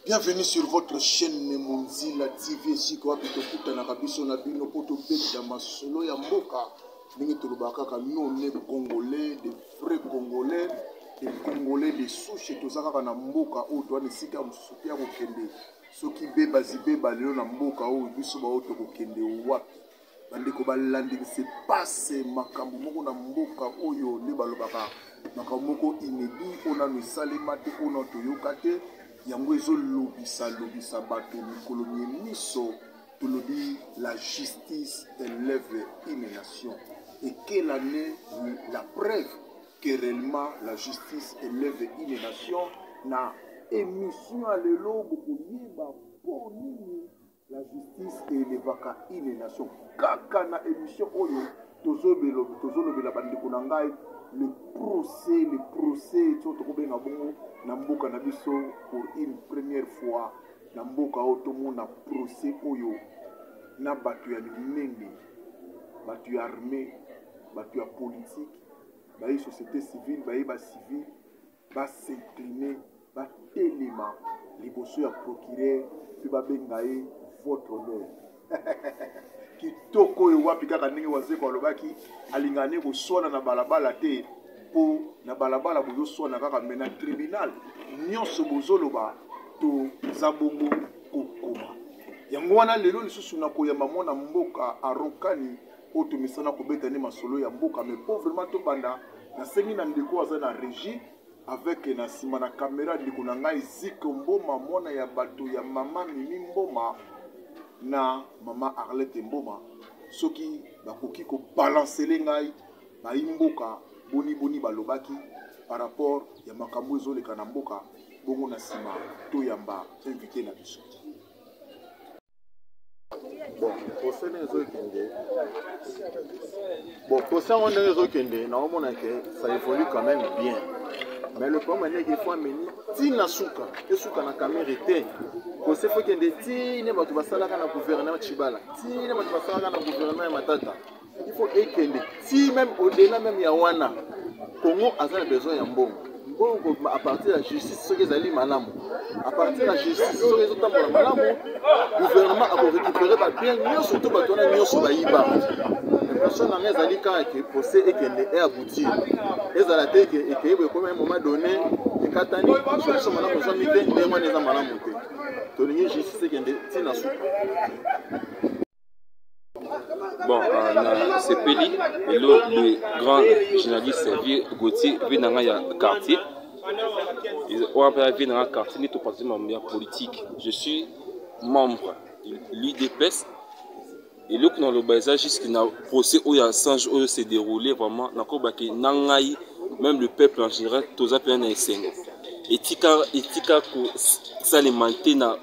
bienvenue sur votre chaîne monzila tv esika wapi tokutanaka biso na bino mpo tobeta masolo ya mboka ndenge tolobaka kaka none congolais de vrai congolais de congolais de souche toza kaka na mboka oyo toa na esika ya mosusu mpe ya kokende soki bebazi beba lelo na mboka oyo biso baoyo tokokende wapi bandeko balandi se passe makambo moko na mboka oyo nde balobaka makambo moko inebi oyo nano esalema te oyo nano toyoka te yango ezolobisa lobisa bato mikolo mie miso tolobi la justice elève une nation et quelle année la preuve que réellement la justice elève une nation na émission ya lelo bokoyeba mpo nini La justice elevaka une nation. Kaka na emission oyo tozolobela bandeko na ngai le procès le procès to tokobenga bongo na mboka na biso pour une première fois na mboka oyo tomona procès oyo na bato ya minene bato ya armée bato ya politique baye société civile baye bacivile basincline batelema liboso ya procureur mpe babenga ye votre honneur kitoko oyo wapi kaka ndenge wazeko alobaki alingaka nde koswana na balabala te mpo na balabala bozoswana kaka me na tribunal nyonso bozoloba toza bongo kokoma yango wana lelo lisusu na koyamba mwana mboka arokani oyo tomesana kobeta nde masolo ya mboka mais mpo vraiment tobanda nasengi na ndeko aza na régie avec na nsima na kamera ndeko na ngai ziko mboma mwana ya bato ya mama mimi mboma na mama arlete mboma soki bakoki kobalansele ngai bayi mboka boniboni balobaki par rapport ya makambo ezoleka na mboka bongo na nsima toyamba invité na biso bon procès ndenge ezokende bon procès yango ndenge ezokende naomona ke ça évolue quand même bien mais le problème andeke ifo ameni ti na suka esuka na kamere te procès fo ekende ti ne bato basalaka na gouvernement chibala ti ne bato basalaka na gouvernement ya matata il faut ekende ti même au delà même ya wana congo aza na besoin ya mbongo mbongo à partir ya justice soki ezali malamu à partir ya justice soki ezotambola malamu gouvernement akorécupere babien nyonso to bato wana nyonso bayiba impression na ngai ezali kaka ke procès ekende e aboutir ezala te ke ekei boye ekomi moment donné ekatani solution malamu ezwami te ndenge wana eza malamu te tolingi justice ekende ntina suka Bon, euh, na sepeli lelo le grand journaliste vieux Gauthier vie na nga ya quartier oyo mpe ya vie na nga quartier nde topartise mambo ya politique je suis membre l'udps eloko naloba eza jusque na procès oyo ya sange oyo se déroule vraiment nakobaki na ngai même le peuple en général toza mpena na esengo etika etika kosalema te na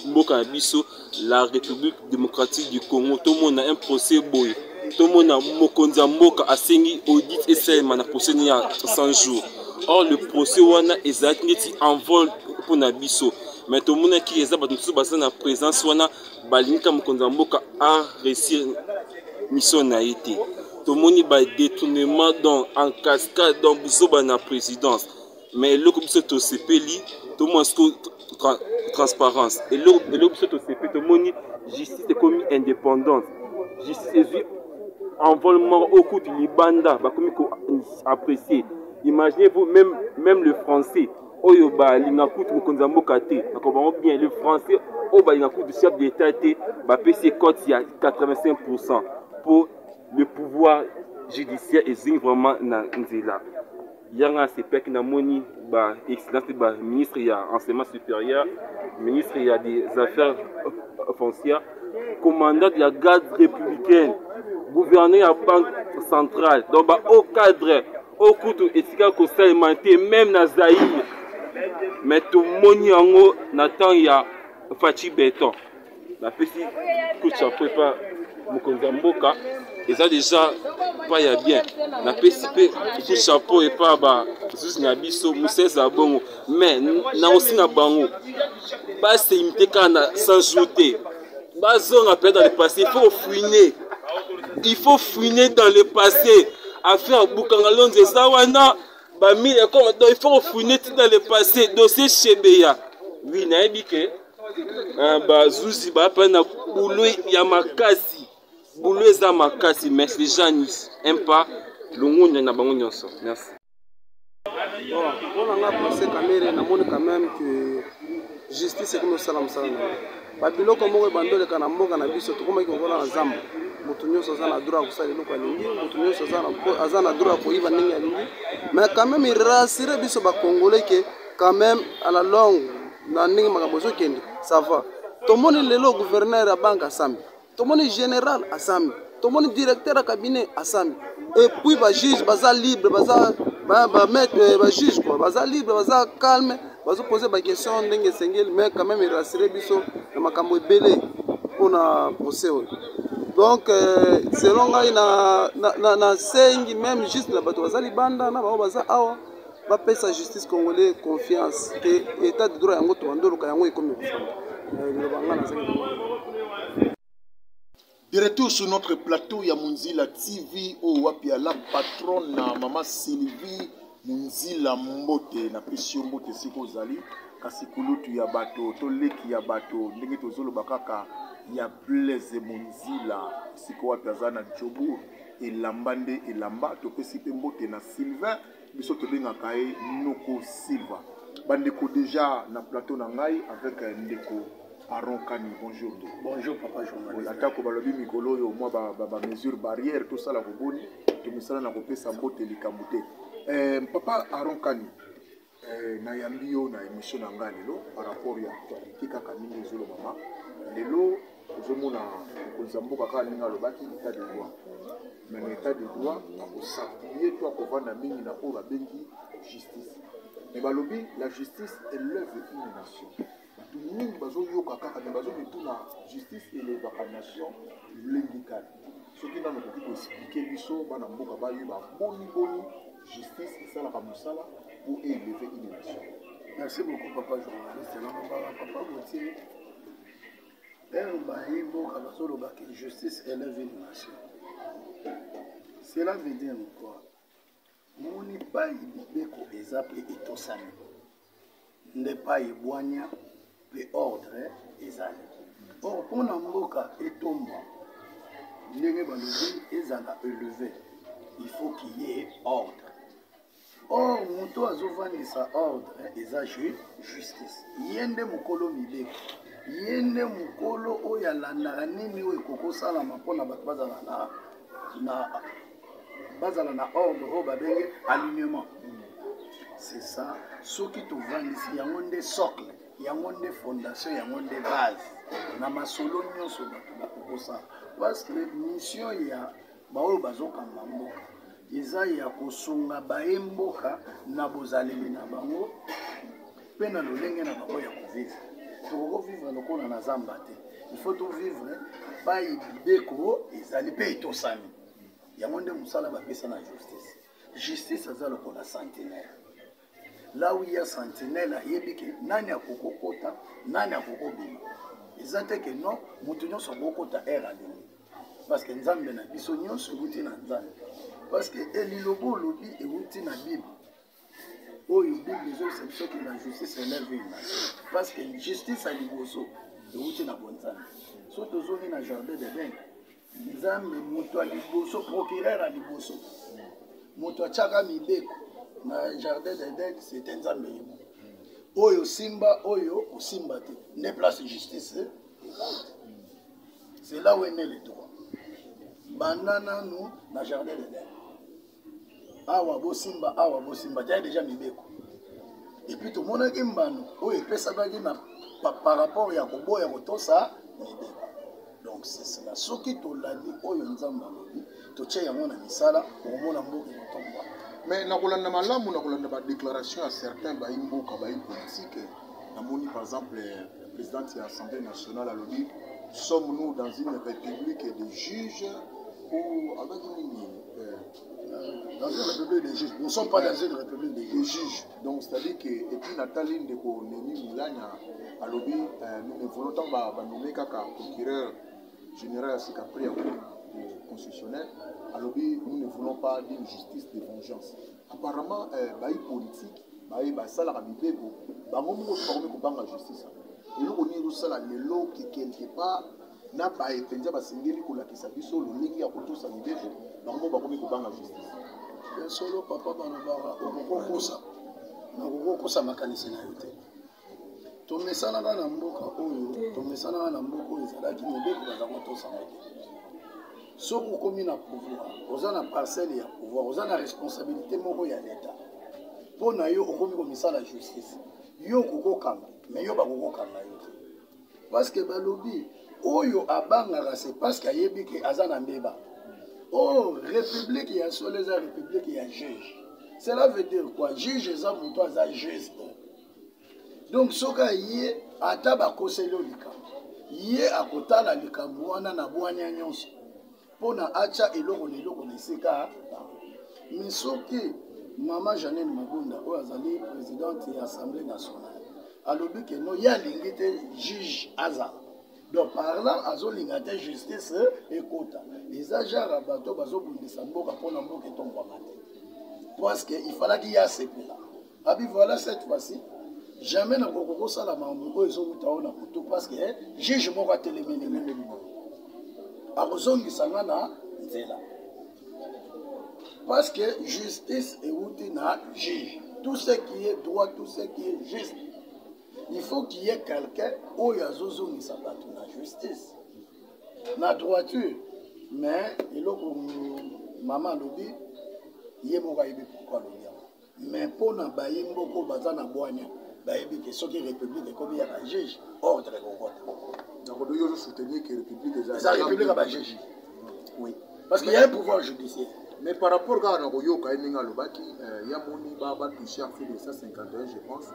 mboka na biso la république démocratique du congo tomona un procès boye tomona mokonzi ya mboka asengi audit esalema na procès ne ya 100 jours or le procès wana ezalaki neti envol mpo na biso me tomonaki eza bato mosusu baza na présence wana balingi ka mokonzi ya mboka a réussir mission na ye te tomoni badetournement donc en cascade donc buzoba na présidence mais eloko biso tosepeli tomona siko tra, transparence eloko biso tosepeli tomoni justice ekomi indépendante justice ezwi envol moko oyo kutu libanda bakomi koapprécier imaginez vous même, même le français oyo balinga kutu mokonzi ya mboka te nakoba yango bien le français oyo balinga kutu chef d'état te bapesi ye cote ya 85 pourcent mpo le pouvoir judiciaire ezwi vraiment na nzela yanga sepeki namoni ba excellence de ba ministre ya enseignement supérieur ministre ya des affaires euh, foncières commandant de la garde républicaine gouverneur ya banque centrale donc ba haut cadre oyo kutu esika kosalema te meme na zaire mais tomoni yango na temps ya faci beton napesi coup de chapeau epa mokonzi ya mboka eza deja pa ya bien napesi mpe coup chapeau epa bazuzi na biso mosesa ya bongo mais na osi na bango baseimite kaka na 100 jour te bazonga mpe dans le passé il faut fouine il faut fouine dans le passé affaire bukanga lonzo eza wana bamile ekoma donc il faut fouine ti dans le passé dossier chebeya wi nayebi ke Ah, bazuzi bapa na bulu ya makasi bulu eza makasi mais les gens n'y aiment pas longonya na bango nyonso merci mpona nga place kamere namoni quand même que justice ekomi osala mosala na ye babiloko moko ebandi oleka na mboka na biso tokomaki kokola na zamba moto nyonso aza na droit ya kosala eloko alingi moto nyonso aza na droit ya koyiba ndenge alingi mais quand même irasire biso bacongolais ke quand même à la longue na ndenge makambo ezokende ça va tomoni lelo gouverneur ya banque asambi tomoni général asambi tomoni directeur ya cabinet asambi epuis bajuge baza libre baza bamaître bajuge kua baza libre baza calme bazopose baquestion ndenge esengeli mais quand même erasire biso na makambo ebele mpona procès oyo donc euh, selon ngai nasengi na, na, na meme juste na bato baza libanda na bango baza awa bapesa justice congolais confiance ke etat de droit yango tobandoluka yango ekomi kofanda liloba ngai nazali De retour sur notre plateau ya Munzila TV oyo wapi ya la patronne na mama Sylvie Munzila Mbote na pesi yo mbote esika ozali kasi kulutu ya bato to leki ya bato ndenge tozoloba kaka ya Blaise Munzila esika wapi aza na Jobourg elamba nde elamba topesi mpe mbote na Sylvain biso tobengaka ye noko silva bandeko deja na plateau na ngai avec euh, ndeko aron kani bonjour ndeko bonjour papa journaliste atako balobi mikolo oyo mwa bamesure barrière tosala koboni tomisala na kopesa mbote likambo te euh, papa aron kani euh, nayambi yo na émission na ngai lelo par rapport ya actualité kaka ndenge ezolobama lelo ozomona mokonzi ya mboka kaka ndenge alobaki etat de droit mais na etat de droit akosappuye to akovanda mingi na oyo babengi justice mais balobi la justice elève une nation bato mingi bazoyoka kaka mais bazomituna justice elevaka nation lolenge kani soki nano okoki koexplike biso bana mboka bayeba boni boni justice esalaka mosala mpo eleve une nation merci beaucoup papa journaliste na mobala papa botie heure bayi mboka bazoloba ke justice eleve une nation cela veut dire quoi moni pai mibeko eza mpe etosami nde pai ebwania mpe ordre ezali or mpo na mboka etomba ndenge balobi ezala eleve il faut kiye ordre Or moto azovandisa ordre eza ju justice ye nde mokolo mibeko ye nde mokolo oyo alandaka nini oyo ekokosalama mpona bato bazala na, na bazala na ordre oyo babenge alignement c'est ça soki tovandisi yango nde socle yango nde fondation yango nde base na masolo nyonso bato bakokosala parce que mission ya baoyo bazokamba mboka eza ya kosunga baye mboka na bozaleli na bango mpe na lolenge na bango ya kovivre tokokovivre lokola na zamba te ifo tovivre pai mibeko ezali mpe etosami yango nde mosala bapesa na justice justice aza lokola centenaire là où il y a sentinelle ayebi ke nani akoki kokota nani akoki kobima eza te ke non moto nyonso akoki kokota aire alingi parce que nzambe na biso nyonso euti na nzambe parce que elilobo olobi euti na bible oyo bible ezolisa biso ke la justice elève une nation parce que justice ya liboso euti na bonzambe so tozongi na jardin de dene nzambe moto ya liboso procureur ya liboso moto atyaka mibeko na jardin d'eden c'était nzambe ye oyo osimba oyo osimba te nde place justice c'est là où est né le droit banda nanu na jardin d'eden awa bosimba awa bosimba tya deja mibeko epuis tomonaki mbano oyo epesamaki na par rapport ya koboya kotosa mibeko donc sesela soki tolandi oyo nzambe alobi totya yango na misala okomona mboka ekotomba mais na kolanda malamu na kolanda badéclaration ya certain bayi mboka bayi politike namoni par exemple présidente ya assemblée nationale alobi sommes nous dans une république de juges ou abaki nini dans une république des juges nous sommes pas dans une république des juges, juges. donc c'est à dire que epuis natali ndeko neni milanya alobi euh, nous ne voulons ntango banome kaka procureur général ya sika prix ya cour constitutionnel alobi nous ne voulons pas d'une justice de vengeance apparemment euh, bayi politique baye basalaka mibeko bango moko bakomi kobanga justice eloko nini ezosala lelo que quelque part na baye mpenza basengeli kolakisa biso lolenge ya kotosa mibeko bango bakomi kobanga justice ya solo papa balobaka okokokosa nakokokosa makanisi na yo te tomesanaka na mboka oyo tomesanaka na mboka oyo ezalaki mibeko baza kotosama te soki okomi na pouvoir oza na parcelle ya pouvoir oza na responsabilité moko ya leta mpo na yo okomi komisala justice yo okokokanga me yo bakokokanga yo te parce que balobi oyo abangaka c'est parce que ayebi ke aza na mbeba oh république ya solo eza république ya juge cela veut dire quoi juge eza moto aza juste donc soki aye ata bakoseli yo likambo ye akotala likambo wana na bwania nyonso mpo na atya eloko na eloko na esika me soki mama janine mabunda oyo azali présidente ya assemblée nationale alobi ke no ye alingi te juge azala donc par là azolinga te justice ekota eza genre ya bato bazobundisa mboka mpo na mboka etombwama te parce que ifalaki ye asepela abi voilà cette fois-ci jamais na koko kosala makambo oyo ezowuta oyo na kutu parce que eh, juge moko atelemeli nga ndenge boye akozongisa nga na nzela parce que justice ewuti na juge tout ce qui est droit tout ce qui est juste il faut qu'il y ait quelqu'un oyo azozongisa bato na justice na droiture mais eloko mama alobi ye moko ayebi pourkui alobi mais mpo na bayi mboko baza na bwanya bayebi te soki république ekomi ya bajuge ordre ekokota nakodoki ozo soutenir que république eza république ya bajuge oui parce qu'il y a un pouvoir judiciaire mais par rapport kaka na koyoka ye ndenge alobaki euh, ya moni batouche ya fede 151 je pense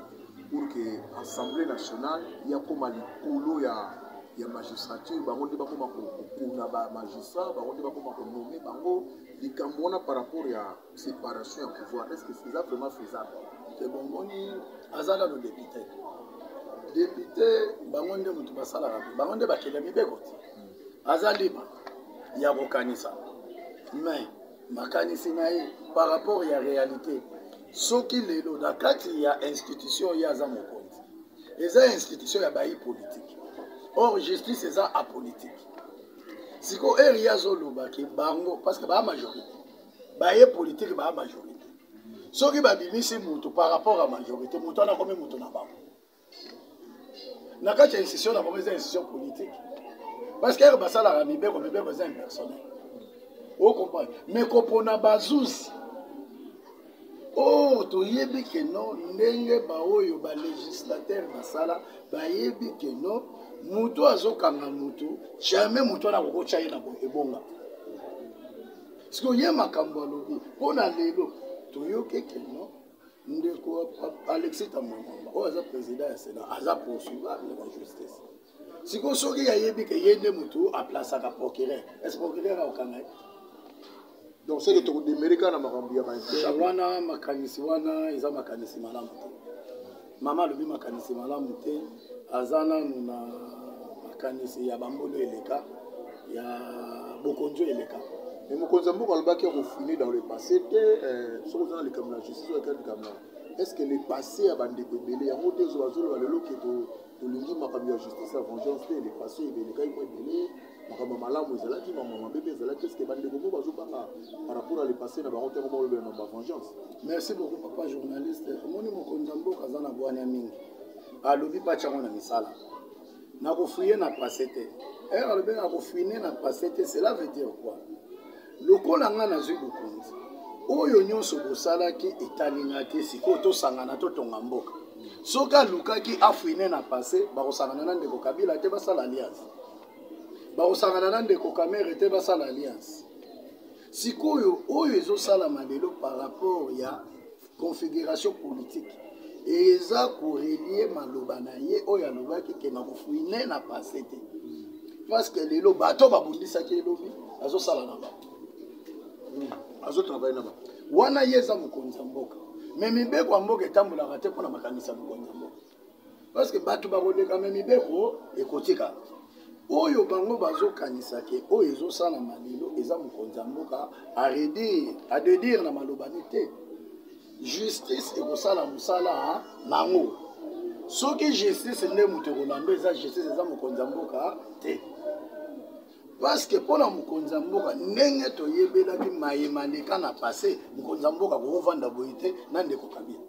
pour que assemblée nationale yakoma likolo ya ya magistrature bango nde bakoma kokuna bamagistrat bango nde bakoma konome bango likambo wana par rapport ya separation ya pouvoir est ce que eza vraiment faisable te bomoni aza nano depute depute bango nde motu basalaka te bango nde bakenda mibeko te aza libre ya kokanisa mais makanisi na ye par rapport ya réalité soki lelo na kati ya institution ye aza mokonzi eza institution ya bayi politike or justice eza apolitique sikoyo eri ye azoloba ke bango parce que baa majorité baye politike baa majorité soki babimisi moto par rapport ya majorité moto wana akomi moto na bango na kati ya institution na bango eza institution politique parce que ere basalaka mibeko mibeko eza impersonnel ocomprendre mais kopona bazuzi or toyebi ke no ndenge baoyo balegislatere basala bayebi ke no moto azokanga moto jamais moto wana akokotya ye na ebonga siko ye makambo alobi mpo na lelo toyoki ekeno ndeko alexis tamamama oyo aza président ya sénat aza poursuivable na justice sikoyo soki yayebi ke ye nde motu aplasaka procureur est ce procureur akokanga ye donc seke tokodemere kaka na makambo ya bawana makanisi wana eza makanisi malamu te mama alobi makanisi malamu te aza nanu na makanisi ya bambolo eleka ya bokonzi eleka mais mokonzi ya mboka alobaki ya kofine dans le passé te euh, soki oza na likambo na justice oyo ekali likambo na est ce que le passé ya bandeko ebele yango te ezobazoloba lelo ke tolingi makambo ya justice ya vengeance te le passé ebelekaki mwa ebele makambo ya malamu ezalaki makambo ya mabe mpe ezalaki eske bandeko moko bazobanga par rapport ya lepase na bango ntango molobela na bavengeance merci beaucoup papa journaliste omoni mokonzi ya mboka aza na bwania mingi alobi batia yango na misala nakofuye na pase te ere eh, alobi nakofuine na pase te cela veut dire quoi lokola ngai nazwi bokonzi oyo nyonso bosalaki etali ngai te sikoyo tosangana totonga mboka soki alukaki afuine na pase bakosangana na ndeko kabila te basala alliance bakosangana na ndeko kamere te basala alliance sikoyo oyo ezosalama lelo par rapport ya configuration politique eza korelie maloba na ye oyo alobaki ke nakofuine na passe te parce que lelo bato babundisaki elobi azosala na bango azotravaille na bango wana ye eza mokonzi ya mboka me mibeko ya mboka etambolaka te mpo na makanisi ya mokonzi ya mboka parce que bato bakoleka me mibeko ekotika oyo bango bazokanisa ke oyo ezosalama lelo eza mokonzi ya mboka aredire adedire na malobani te justice ekosala mosala nango soki justice nde moto ekolanda eza justice eza mokonzi ya mboka te parceke mpo na mokonzi ya mboka ndenge toyebelaki maye maleka na passe mokonzi ya mboka kokovanda boye te na ndeko kabila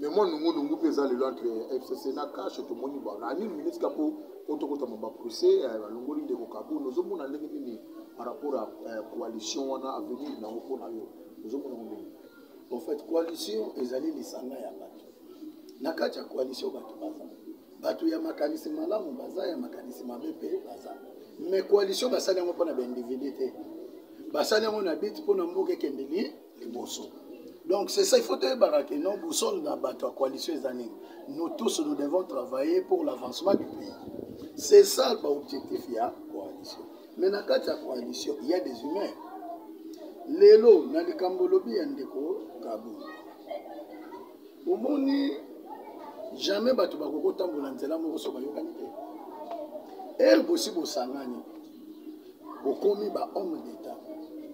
me mwa nungunungu mpe eza lelo entre fcc na kashe tomoni bana anini ministre mpo mpo tokotama baprocès eh, balongoli ndeko kabuni ozomona ndenge nini par rapport ya eh, coalition wana avenir nango mpo na yo ozomona ngo ndenge en fait coalition ezali lisanga ya bato na kati ya coalition bato baza bato ya makanisi malamu baza ya makanisi mabe mpe baza mais coalition basali yango mpo na baindividu te basali yango na bit mpo na mboka ekende liboso donc c'est ça il faut toyebaka ke non bosole na bato ya coalition eza nini nous tous nous devons travailler pour l'avancement du pays c'est ça baobjectif ya coalition mais na kati ya coalition il y a des humains lelo na likambo olobi ya ndeko kabou omoni jamais bato bakoki kotambola nzela moko so bayokani te ere bosi bosangani bokomi bahomme d'état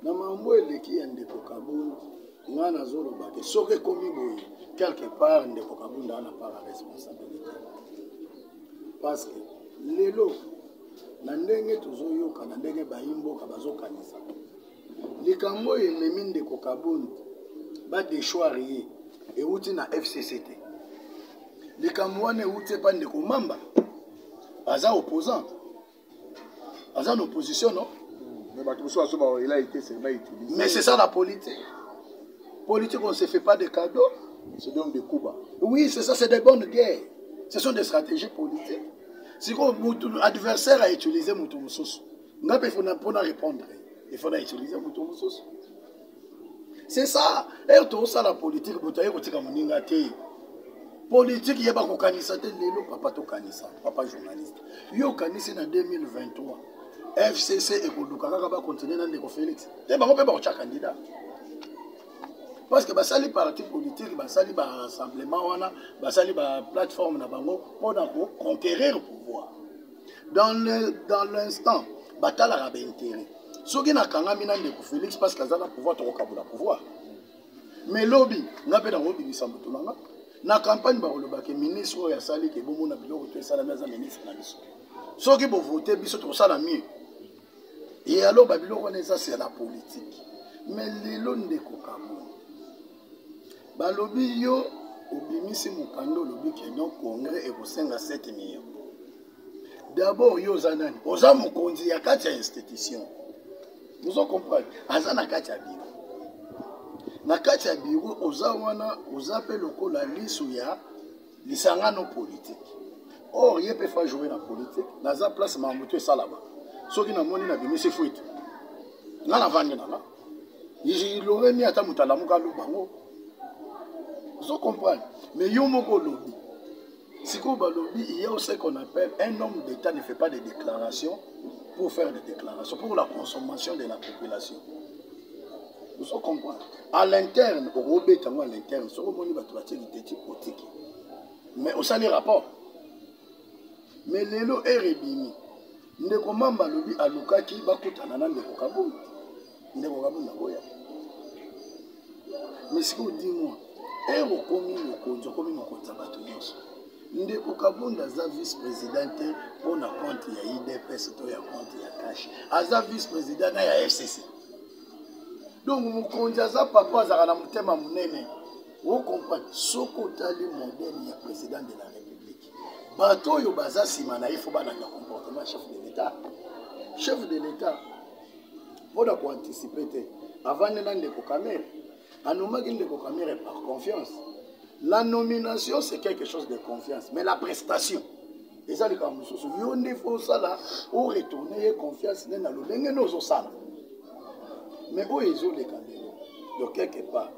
na mambo eleki ya ndeko kabund ngai nazoloba te soki ekomi boye quelque part ndeko kabunda wana par responsabilité parce que lelo na ndenge tozoyoka na ndenge bayimboka bazokanisa likambo oyo ememi ndeko kabund badeshware ye euti na fcc te likambo wana euti epa ndeko mamba aza opposant aza na opposition no mais c'est ça la politique politique on se fait pas de cadeaux c'est donc des coups bas oui c'est ça c'est des bonnes guerres ce sont des stratégies politiques sikoyo adversaire a utilise moto mosusu nga mpe fona mpo na répondre il faut na utilise moto mosusu c'est ça ere tozosala politike moto aye kotika moninga te politike yeba kokanisa te lelo papa tokanisa papa journaliste yo okanisi na 2023 fcc ekoluka kaka bakontinue na ndeko félix te bango mpe bakotya candidat parce que basali parti politique basali barassemblement wana basali baplateforme na bango mpo na koconquérir pouvoir dans le dans l'instant batalaka baintérêt soki nakangami na ndeko félix parce que aza na pouvoir tokokabola pouvoir mais lobi nga mpe nakobimisa motu na nga na campagne bakolobake ministre oyo asali ke bomona biloko to esalami aza ministre na biso soki bovote biso tokosala mieux e alors babiloko wana eza se na politike mais lelo ndeko kamona balobi yo obimisi mokanda olobi ke non congrès ekosenga 7 million d'abord yo oza nani oza mokonzi ya kati ya institution ozo comprendre aza na kati ya biro na kati ya biro oza wana oza mpe lokola liso ya lisangano politique or ye mpe fa joue na politique naza place makambo to esalama soki namoni nabimisi fuite nga navandi nanga iloremi ata moto alamuka aloba ngo ozo comprendre mais yo moko olobi sikoyo balobi il y a aussi qu'on appelle un homme d'état ne fait pas de déclaration pour faire des déclarations pour la consommation de la population ozo comprendre à l'interne okobeta yango à l'interne soki omoni bato batie liteti otiki mais osali rapport mais lelo ere ebimi ndeko mamba alobi alukaki bakutana na ndeko kabunda ndeko kabunda boya mais sikoyo dimwa ere okomi mokonzi okomi mokonzi ya bato nyonso ndeko kabunda aza vice président te mpo na compte ya idps to ya compte ya cash aza vice président na ya fcc donc mokonzi aza papa azalaka na motema monene okomprendre soki otali modele ya président de la république bato oyo baza nsima na ye fo balanda comportement chef de l'état chef de l'état mpo na koanticipe te avandi na ndeko kamere A nommaki ndeko Kamere par confiance. La nomination c'est quelque chose de confiance, mais la prestation eza likambo mosusu. Yo nde faut osala o retourner ye confiance nde na lolenge nde ozosala. Mais oyo ezoleka lelo de quelque part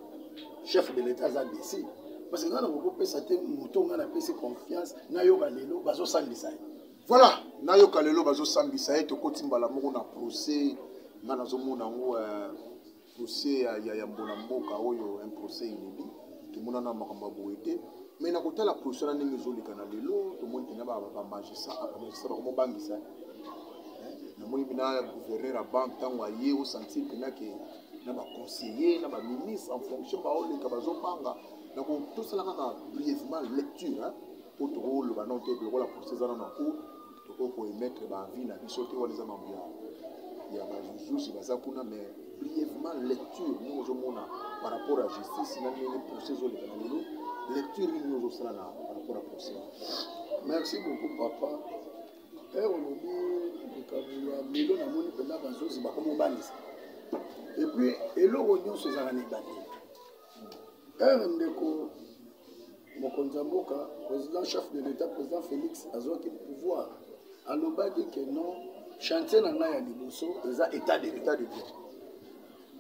chef de l'État aza décis parce que nga na kokopesa te moto nga napesi confiance nayoka lelo bazosambisa ye voilà nayoka lelo bazosambisa ye tokoti mbala moko na procès nga nazomona yango euh, procès ya, ya, ya mbola mboka oyo un procès inédit tomonana makambo ya boye te mais na kotala position na ndenge ezoleka na lelo tomoni mpena bamagistrat bamagistrat bakomobangisa namoni mpena gouverneur ya banque ntango aye osentir mpena ke na baconseiller na baministre en fonction baoleka bazobanga donc tosalaka na brièvement lecture mpo tokoloba nao te lokola procès eza na na cour tokoki koemettre baavis na biso te wana eza mambo ya ya bazuzi baza kuna mais brièvement lecture ndenge ozomona par rapport ya justice na ndenge procès ezoleka na lelo lecture nini ozosala na par rapport ya procès merci beaucoup papa e olobi likambo ya lelo namoni mpenza bazuzi bakomobanisa epuis eloko nyonso ezalaka na ebandeli heure ndeko mokonzi ya mboka président chef de l'état président félix azwaki pouvoir alobaki ke non chantier na ngai ya liboso eza état de état de droit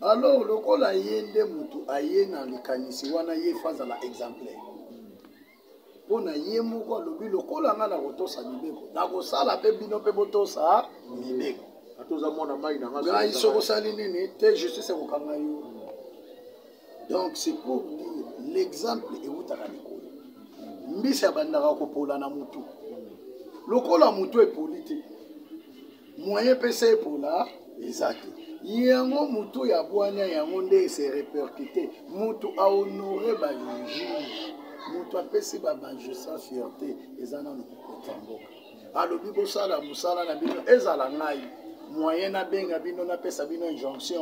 alors lokola ye nde motu aye na likanisi wana ye fo azala exemplaire mpo na ye moko alobi lokola ngai nakotosa mibeko nakosala mpe bino mpe botosa mibeko atoza mwana mai na ngai soko osali nini te justice ekokanga yo donc c'est pour dire l'exemple ewutaka likolo mbisi abandaka kopola na motu lokola motu epoli te moyen mpesa epola eza te yango motu ya bwania yango nde ese repercute motu ahonore bajuge motu apesi babanjusa fierte eza nano kokota mboka alobi bosala mosala na bino ezala ngai moyen nabenga bino napesa bino injonction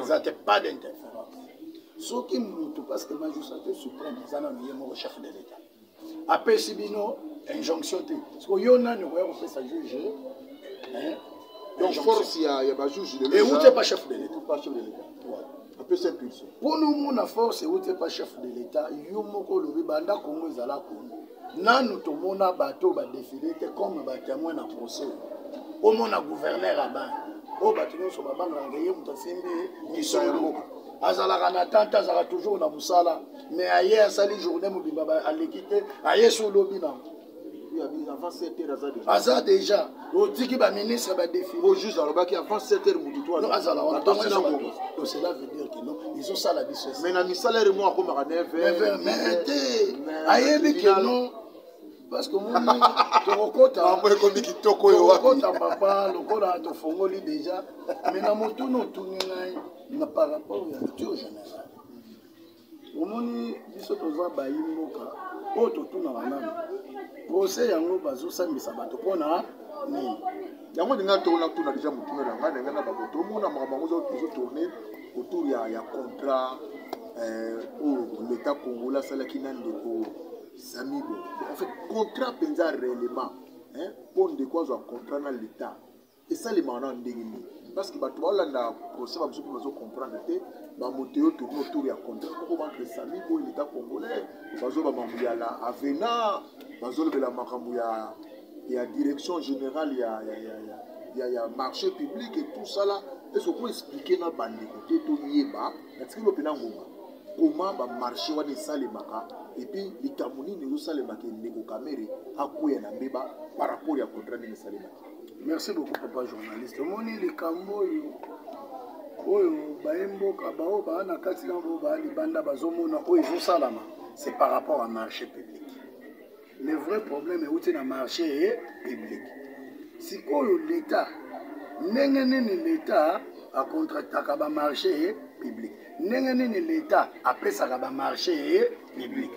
eza te pas d'interférence soki motu parce que majusate supreme eza nano ye moko chef de l'état apesi bino injonction te siko yo nani okoya kopesa juge hein? donc force ya, ya bajuge de euti epa chef de l'état pa chef de l'état apesi impulsion mpo nomona force euti epa chef de l'état yo moko olobi banda kongo ezala kongo nanu tomona bato oyo badefile te comme batemoin na procès omona gouverneur abana oyo bato nyonso babangaka ye moto asimbi misolo azalaka na tante azalaka toujours na mosala mais aye asali journée mobimba aleki te aye so olobi nango aza déjà otiki baministre badefiojuge alobaki avant 7 heure motu toazala wanacela veut dire kino ezosala biso mais na misala ere mo akomaka 9 mais te ayebi kino parce que moni tokokotaekomi kitoko oyokota papa lokola tofongoli déjà mais na motuna otuni ngai na par rapport ya culture générale omoni biso toza bayi mboka oyo totunaka nani procès yango bazosambisa bato mpo na nini yango ndenge atona tuna deja motuna na ngai ndenge na bango tomona makambo yango ezo tourne autour ya, ya contrat eh, oyo oh, leta kongola asalaki na ndeko samibo en fait contrat mpenza réellement mpo ndeko azwa contrat na leta esalemaka na ndenge nini parce que bato baolandaka procès bamosusu mpe bazo comprendre te bamoto yo tourne autour ya contrat moko bantre sami boye leta congolais bazoba makambo ya la avena bazolobela makambo ya ya direction générale ya, ya, ya, ya, ya, ya marché public et tout ça là esoki okomi explike na bandeko te toyeba natikeli yo mpena ngonga koma bamarché wana esalemaka epuis likambo nini ezosalemaka ndeko kamere akweya na mbeba par rapport ya contrat ndenge esalemaka merci beaucoup papa journaliste omoni likambo oyo oyo baye mboka baoyo baa na kati na bao baa libanda bazomona oyo ezosalama c'est par rapport à marché public le vrai problème euti na marché ye public sikoyo l'état ndenge nini l'état acontractaka bamarché ye public ndenge nini l'état apesaka bamarché ye public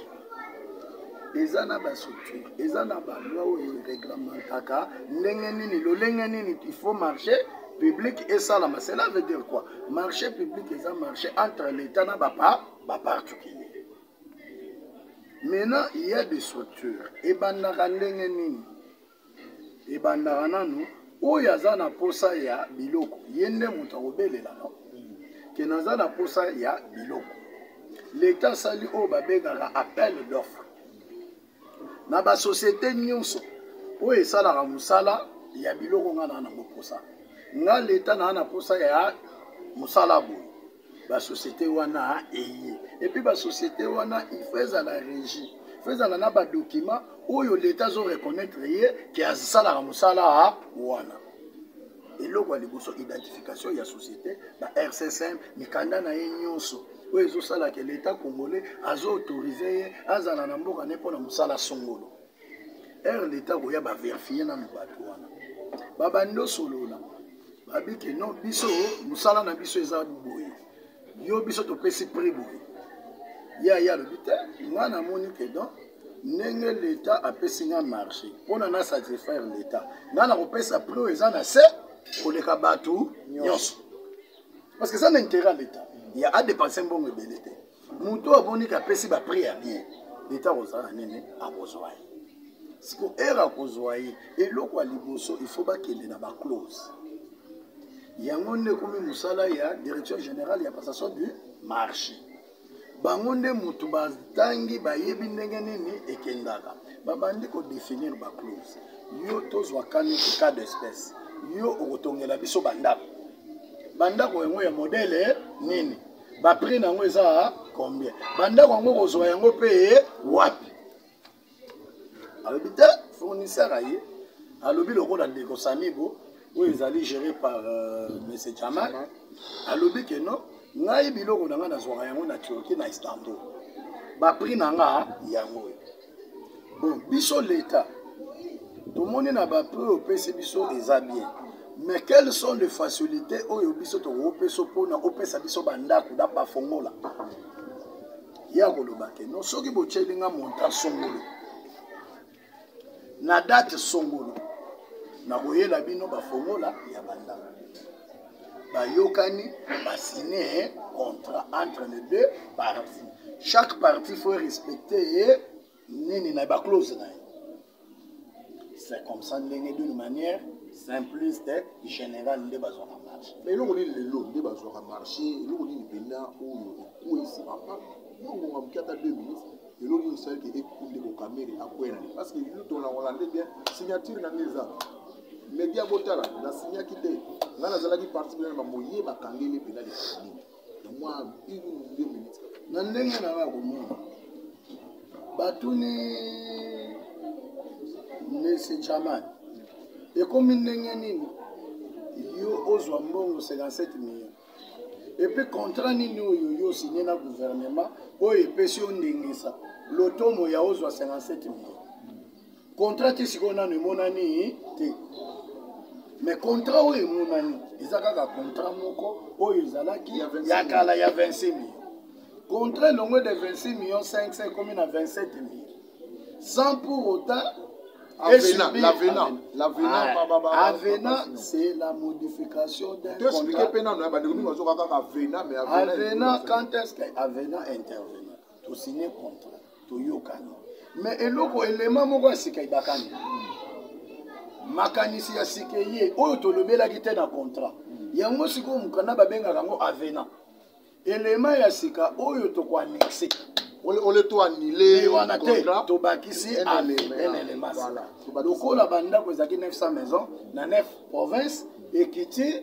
eza na bastructure eza na baloi oyo ereglementaka ndenge nini lolenge nini il faut marché public esalama cela veut dire quoi marché public eza marché entre l'état na baparticulier maintenant il y a des structures ebandaka ndenge nini ebandaka nanu oyo aza na posa ya biloko ye nde moto akobelela no ke naza na posa ya biloko leta asali oyo babengaka appel d'offre na basociété nyonso oyo esalaka mosala ya biloko ngai naa na boposa ngai leta naa na posa ya mosala boye basociété wana eye epuis basociété wana ifo ezala régi fo ezala na badokima oyo leta azo reconnaître ye ke asalaka mosala wana eloko ya liboso identification ya société ba rcsm mikanda na ye nyonso oyo ezosala ke leta congolais azo autorise ye azala na mboka ne mpo na mosala songolo heure leta koya baverifie nano bato wana babandi osolola babi ke non biso mosala na biso eza boye yo biso topesi prix boye ye aye alobi te ngai namoni ke don ndenge leta apesi ngai marché mpona na satisfaire leta ngai nakopesa prix oyo eza na se koleka bato nyonso parce que eza na intérêt ya leta ya adepanse mbongo ebele te moto oyo amoni kapesi baprix ya bien leta akozala na nini akozwa ye siko ere akozwa ye eloko ya liboso ifo bakende na baclose yango nde ekomi mosala ya direction générale ya passation du marché bango nde motu batangi bayebi ndenge nini ekendaka babandi kodefinir baclose yo tozwa kani cas d'espèce yo okotongela biso bandako bandako yango ya modele nini ba prix na yango eza combien bandako yango kozwa yango mpe wapi alobi te fournisseur aye alobi lokola ndeko samigo oyo ezali géré par euh, monsieur jamal alobi ke non ngai biloko na ngai nazwaka yango na turquie na istanbul baprix na nga yango oyo bon biso leta tomoni na bape oyo opesi biso eza bien mais quelles sont les facilités oyo biso tokopesa mpona opesa biso bandako da bafongola ye akoloba ke no soki botyeli nga montant songolo na date songolo nakoyela bino bafongola ya bandako bayokani basigne contrat entre les deux parties chaque partie faut respecte ye nini na baclose na ye c'est comme ça ndenge d'une manière simpliste général nde bazwaka marché mais eloko nini lelo nde bazwaka marché eloko nini mpenza oyo ekweyisi papa nongonga moke ata deux minutes eloko nini esalaki ekunde kokamere akwela parce que lutonangola nde bien signature na nde eza media botala na signaki te ngai nazalaki parti bino na bamoye bakangeli mpena likani na mwa une ou deux minutes na ndenge na ngai komona batuni monsieur jaman ekomi ndenge nini yo ozwa mbongo 57 million epe contrat nini oyo yo osigne na gouvernement oyo epesi yo ndengisa lotomo ya ozwa 57 million contrat te sikoyo nano emonani te mais contrat oyo emonani eza kaka contrat moko oyo ezalaki ya kala ya 26 million contrat elongwe de 26 million 500 ekomi na 27 million sans pour autant Avena, l'avena, l'avena, ah, avena, c'est la modification d'un contrat. Expliquez pena, nous avons dit que avena, mais avena. Avena, quand est-ce que avena intervient? Tu signes contrat. toyokani me eloko elema moko ya sika ebakani makanisi ya sika eye oyo tolobelaki te na contrat yango sikoyo mokanda babengaka yango avenant elema ya sika oyo tokoannexe ole to anile wana te tobakisi elema lokola bandako ezalaki 900 maison na 9 province ekiti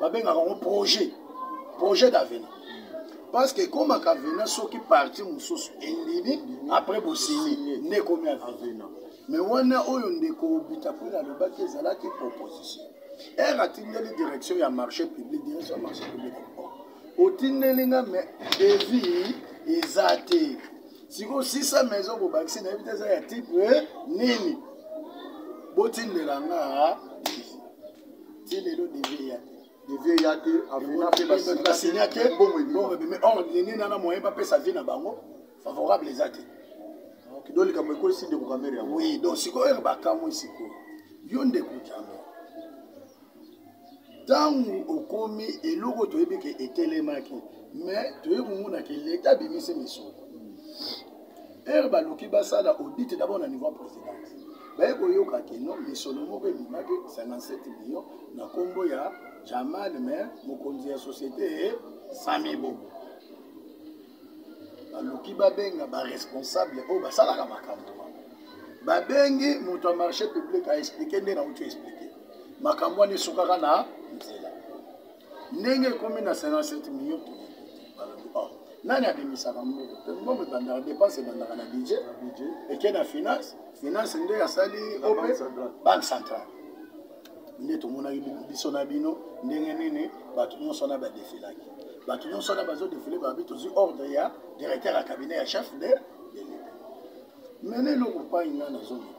babengaka yango projet projet d'avenir parce que ekomaka avenir soki parti mosusu endimi après bosini nde ekomi avenir mais wana oyo ndeko obita mpo nalobaki ezalaki proposition ere atindeli direction ya marché public direction ya marché public otindeli nga me devis eza te sikoyo 600 maison bobakisi nayebi te eza ya type nini botindela nga ti lelo devi eya te devi eya te avena mpe basinya te mbongo ebimi or nini nana moyen bapesa vie na bango favorable eza te donc likambo ekwesi ndeko kamere yango oui donc sikoyo bakamwi sikoyo yo ndeko jambe ntango okomi eloko toyebi ke etelemaki mais toyei komona ke leta abimisi misolo heure baluki basala audit d'abord na niveau ya présidence baye koyoka keno misolo moko ebimaki 57 million na nkombo ya jamal me mokonzi ya société ye samibo baluki babenga baresponsable oyo basalaka makambo babengi moto ya marché public aexplike nde nauti explike makambo wana esukaka na nzela ndenge ekomi na 57 million balobi oh nani abimisaka mbongo mpe mbongo ebandaka dépense ebandaka na budget eke na finance finance nde asali ope banque centrale nde tomonaki biso na bino ndenge nini bato nyonso wana badefilaki bato nyonso wana bazodefile babi tozwi ordre ya directeur ya cabinet ya chef de de l'etat mene eloko pai ngai nazongi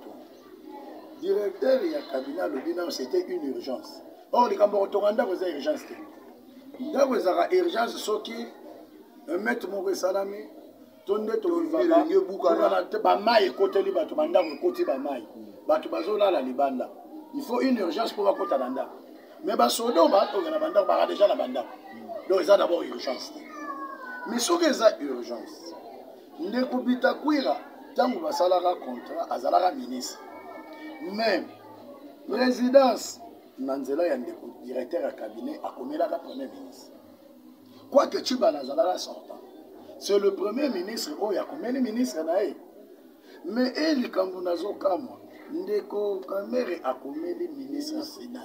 directeur ya cabinet alobi nao c'était une urgence or oh, likambo kotonga ndako eza urgence te ndako ezalaka urgence soki emete moko esalami to nde tolobaka bamai ekoteli bato bandako ekoti bamai bato bazolala libanda il faut une urgence mpo bakota na ndako mais basoda oyo batonga na bandako baka deja na bandako donc eza d'abord urgence te mais soki eza urgence ndeko bitakwira ntango basalaka contrat azalaka ministre mais présidence na nzela ya ndeko directeur ya cabinet akomelaka premier ministre quoique cubana azalaka sortant c'est le premier ministre oyo akomeli ministre na ye mais e likambo nazokamwa ndeko kamere akomeli ministre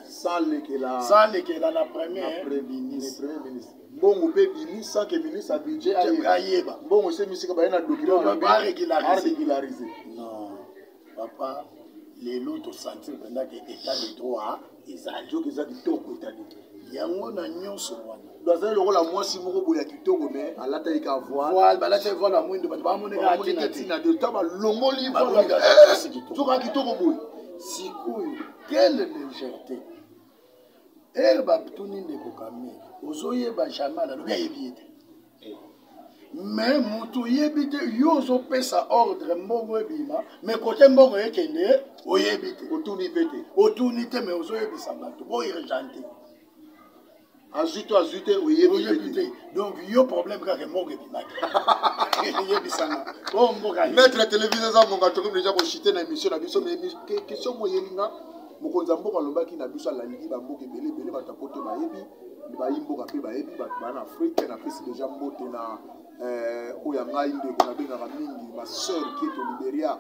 salekela na premier ministre mbongo mpe ebimi sans que ministre ya budget ayeba mbongo esemi sika baye na document ba régulariser non papa lelo tosanti mpenza ke état de droit ezali soki eza kitoko etali yango na nyonso wana bazali lokola mwasi moko boye ya kitoko me alataki ka voile balataki voile ya mwindo bato bamonekaamoneke ntina te ta balongoli voile soka kitoko boye sikoyo quelle légèreté ere batuni ndeko kame ozoyeba jamal alobi ayebi ye te me moto oyebi te yo ozopesa ordre mbongo ebima me kote mbongo ekende oyebi te otuni mpe te otuni te me ozoyebisa bato bourgent te azwi to azwi te oyebi te donc yo problème kaka mbongo ebimaki yebisanga o oh, mboka maître télévision eza mbongo atokomi deja koshite na émission na biso mais question moyelinga mokonzi ya mboka alobaki na biso alaliki bamboka ebele ebele bato ya poto bayebi bayi mboka mpe bayebi bato bana afrike napesi deja mbote na eh, oyo ya ngai ndeko nabengaka mingi ma sœur kieto liberia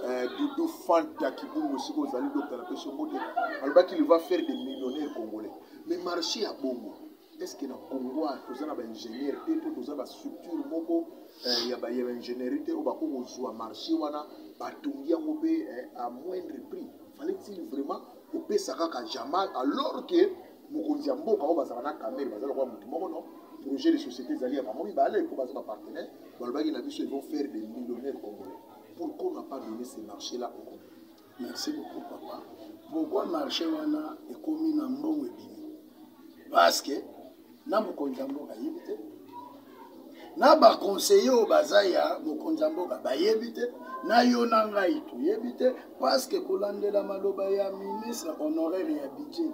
eh, dudu fanta kibungu esika ozali dokta napesi yo mbote alobaki il va faire des millionnaire congolais mais marché ya bongo est ce que na congo toza na baingénieur te to toza bastructure moko eh, ya baye baingénierie te oyo bakoki kozwa marché wana batongi yango mpe eh, à moindre prix fallait-il vraiment kopesa kaka jamal alors que mokonzi ya mboka oyo bazala na kamere baza lokola motu moko no projet de société ezali ya bango mibale mpo baza bapartenaire balobaki na biso ils vont faire des millionnaires congolais pourquoi on n'a pas donné ce marché là au congolais merci beaucoup papa pourquoi marché wana ekomi na mbongo ebimi parce que na mokonzi ya mboka ayebi te na baconseiller oyo baza ya mokonzi ya mboka bayebi te na yo na ngai toyebi te parce que kolandela maloba ya ministre honoraire ya budget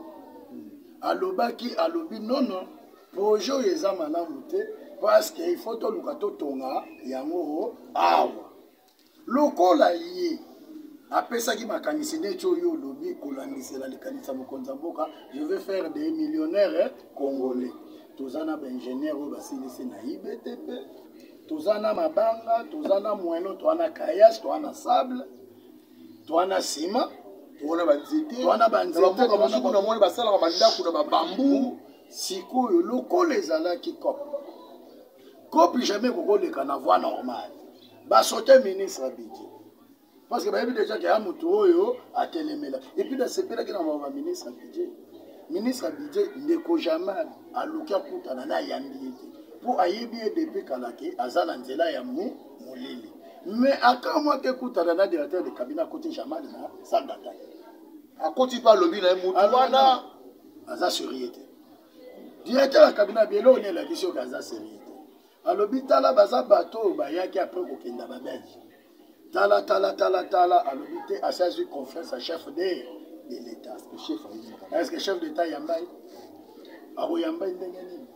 alobaki alobi nono projet oyo eza malamu te parce que il faut toluka totonga yango awa lokola ye apesaki makanisi neti oyo olobi kolandisela likanisi ya mokonzi ya mboka je veux faire des millionnaire congolais toza na baingénieur oyo basilisi na ibtp toza na mabanga toza na moeno toa na kayas toa na sable toa na sima wana banzete wana banzetemboka mosuku na moni basalaka bandako na babambu sikoyo lokola ezalaki cop kopi jamais kokoleka na voie normale basote ministre abiki parce que bayebi déjà ke ya motu oyo atelemela epuis nasepelaki na mama ministre abidje ministre abidje ndeko jamal aluki akutana na ayambi ye te mpo ayebi ye depuis kala ke aza na nzela ya mu molili mais akamwa te kutana na directeur de cabinet akoti jamal na sandata akoti mpe alobi na ye motu wana aza surie te directeur ya kabina abi eloko nini elakisi oyo kaza serie te alobi tala baza bato oyo bayaki apres kokenda babelge tala tala tala tala alobi te asi azwi confiance ya chef de de l'état est ce que chef d'état yambai akoyambai ndenge nini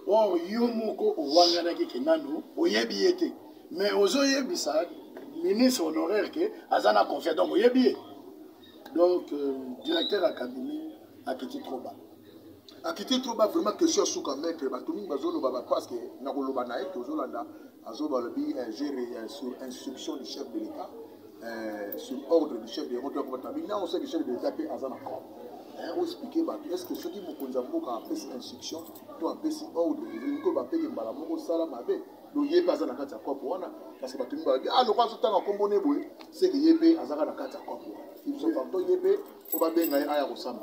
or oh, yo moko owanganaki ke nanu oyebi ye te mais ozoyebisa ministre honoraire ke aza na confiance donc oyebi ye donc euh, directeur ya cabinet akiti trop bas akiti trop ba vraiment question ya suka maître bato mingi bazoloba ba parce que na koloba na ye tozolanda azoba alobi eh, gere eh, sur instruction du chef de l'état eh, sur ordre du chef de l'état to akobata bina on sait que chef de l'état mpe aza na corps oexplike bato est ce que soki mokonzi ya mboka apesi instruction to apesi ordre elingi ko bapeke mbala moko osala mabe donc ye mpe aza na kati ya kopo wana parce que bato mingi balobi ah lokola azotanga nkombo ne boye seke ye mpe azaka na kati ya kopo wana filosofakto ye mpe mpo babenga ye aya kosamba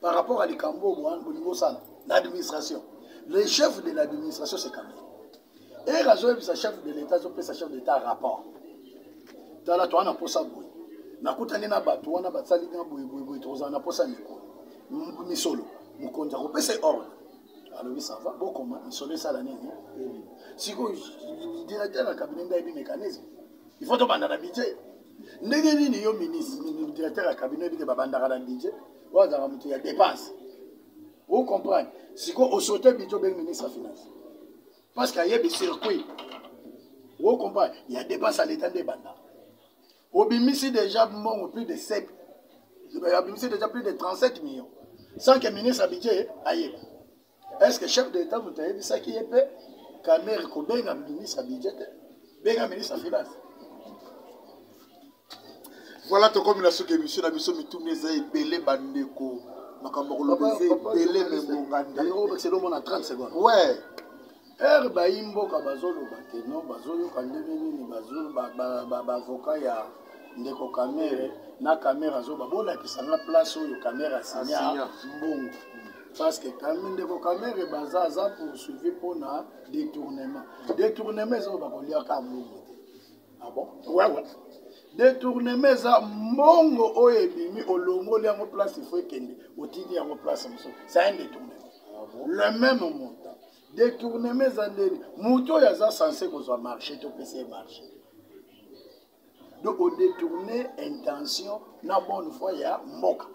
par rapport à likambo oyo bowana bolingi osala na administration le chef de l'administration c'est kabila ere azoyebisa chef de l'état azopesa chef d'état rapport tala toa na mposa boye nakutani na bato wana basali na boyeboyeboye tokozala na mposa mikolo misolo mokonzi akopesa ordre alobi sava bokoma misolo esala nini sikoyo directeur ya cabinet nde ayebi mécanisme il faut tobanda na budget ndenge nini yo ministre directeur ya cabinet ebike babandaka na budget oyo azalaka moto ya dépense o comprendre sikoyo osote bidjo obengi ministre ya finance parce que ayebi circuit o comprendre ya dépense ya leta nde ebanda obimisi déjà mbongo plus de 7 obimisi déjà plus de 37 millions sans que ministre ya budget ayeba est ce que chef de l'état moto ayebisaki ye mpe kamere kobenga ministre ya budget te benga ministre ya finance voilà tokomi na soki émission na biso mituna eza ebele bandeko makambo ya koloba eza ebele me ngonga nde omona 30 seconde ouais heure bayi mboka bazoloba te no bazoyoka ndenge nini bavoka ya ndeko kamere na kamere azoba bolakisa nga place oyo kamere asinya mbongo parce que ndeko kamere baza aza poursuivi mpona détournement détournement eza oyo bakoliaka mbongo te abon ah wewe détournement eza mbongo oyo ebimi olongoli yango place ifo ekende otindi yango place mosusu c'est un détournement ah le même montant detournema eza ndeni moto oyo aza sense kozwa marché topesa ye marché donc odetourne intention na bonne foi ya mboka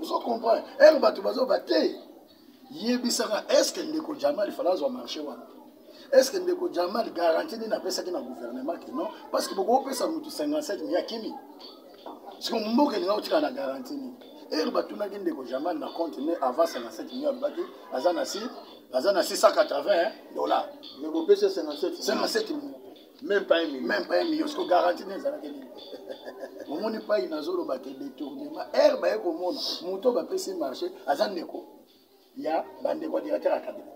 ozo comprendre ere bato bazoba te yebisaka estce ndeko jamal fala azwa marché wana estce ndeko jamal garanti nini apesaki na gouvernement ke non parce que bokopesa motu 57 ya kimi siko mboka elinga kotikala na garanti nini ere batunaki ndeko jamal na compte ne avance ya 57 million alobaki aza na si aza na 680 dollar mais kopesa 57 million même pas un million même pas un million siko garanti ne ezalaki nini omoni pai nazoloba te detournement ere baye komona moto bapesi marché aza ndeko ya bandeko ya directeur ya cabinet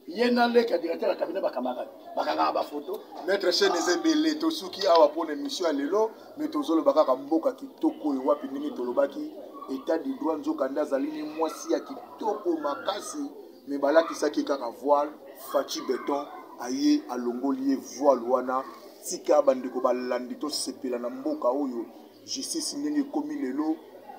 ye na leki ya directeur ya cabinet bakamarade bakangaka bafoto maître chaine eza ebele tosuki awa mpo na émission ya lelo me tozoloba kaka mboka kitoko oyo wapi ndenge tolobaki état du droit nzokande azali ne mwasi ya kitoko makasi me balakisaki kaka voile faci beton aye alongoli ye voile wana tika bandeko balandi tosepela na mboka oyo justice ndenge ekomi lelo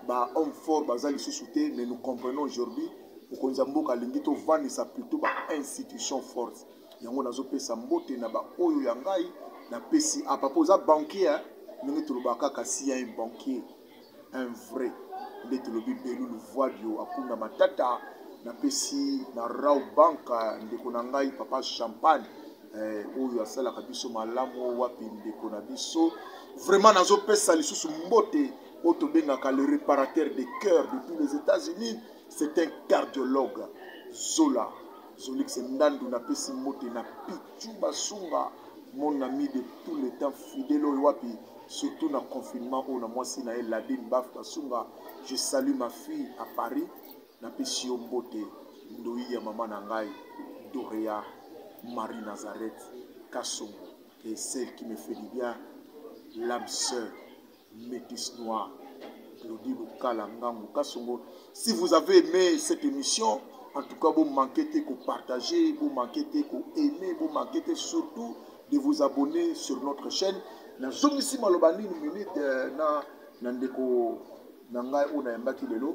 ba homme fort baza lisusu te mais nous comprenons aujourd'hui mokonzi ya mboka alingi tovandisa plutôt ba institution forte yango nazopesa mbote na baoyo ya ngai napesi apa mpo oza banquier ndenge tolobaka kaka si ya un banquier un vrai nde tolobi belulu voidio akunda matata napesi na rau banka ndeko na ngai papa champagne eh, oyo asalaka biso malamu wapi ndeko na biso vraiment nazopesa lisusu mbote oyo tobengaka le réparateur de cœur depuis les états-unis c'est un cardiologue zola zolix ndandu napesi mbote na pichu basunga mon ami de tout le temps fidèle oyo wapi surtout na confinement oyo na mwasi na ye ladine baf basunga je salue ma fille à paris Napesi yo mbote ndoyi ya mama na ngai Dorea Marie Nazareth Kasongo et celle qui me fait du bien l'âme sœur métis noir Claudie Lukala Ngangu Kasongo. Si vous avez aimé cette émission, en tout cas, vous manquez de partager, vous manquez de aimer, vous manquez surtout de vous abonner sur notre chaîne. Na zongisi maloba nini minute euh, na na ndeko na ngai oyo nayambaki lelo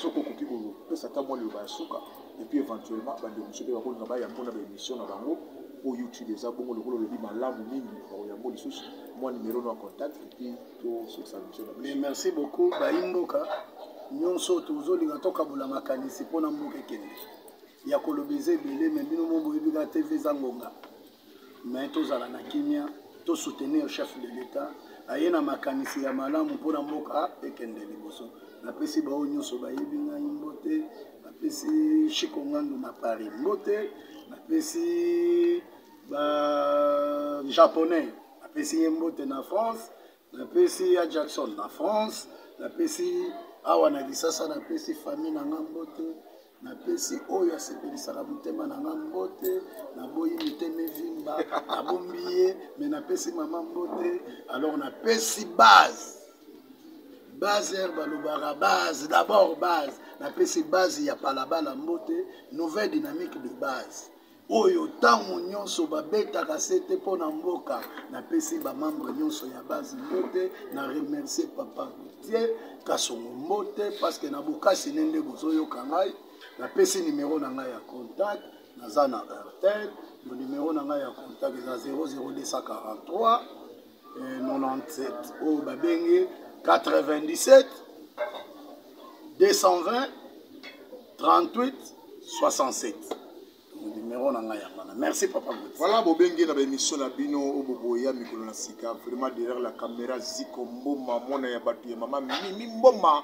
soki okoki kopesa ata mwa liloba ya suka epuis éventuellement bandeko mosusu mpe bakolinga bayambo na baémission na bango mpo youtube eza bongo lokola olobi malamu mingi bakoyambo lisusu mwa numero no ya contact epuis tosukisa mission na biso merci beaucoup bayi mboka nyonso tozolinga tokabola makanisi mpo na mboka ekende ya koloba eza ebele me bino mo boyebi kaka tv eza ngonga mais tozala na kimia to soutenir chef de l'etat aye na makanisi ya malamu mpo na mboka ekende liboso napesi baoyo nyonso bayebi ngai mbote napesi chiko ngandu na paris mbote napesi ba japonais napesi ye mbote na france napesi ya jackson na france napesi awa na lisasa napesi fami na nga mbote napesi oyo asepelisaka motema na nga mbote naboyi mitema evimba nabombi ye me napesi mama mbote alors napesi base base ere balobaka base d'abord base napesi base ya palabala mbote nouvelle dynamique de base oyo ntango nyonso babetaka sete mpo na mboka napesi bamembre nyonso ya base mbote na remercie papa tie kasongo mbote parceke na bokasi nde nde bozoyoka ngai napesi nimero na ngai ya contact naza na airtel monimero na ngai ya contact eza 00243 97 eh, oyo babengi 97 220 38 67 numero na ngai yango wana merci papa voilà bobenge na baémission na bino oyo boboya mikolo na sika vraiment derrière la caméra ziko mboma mwana ya bato ya mama mimi mboma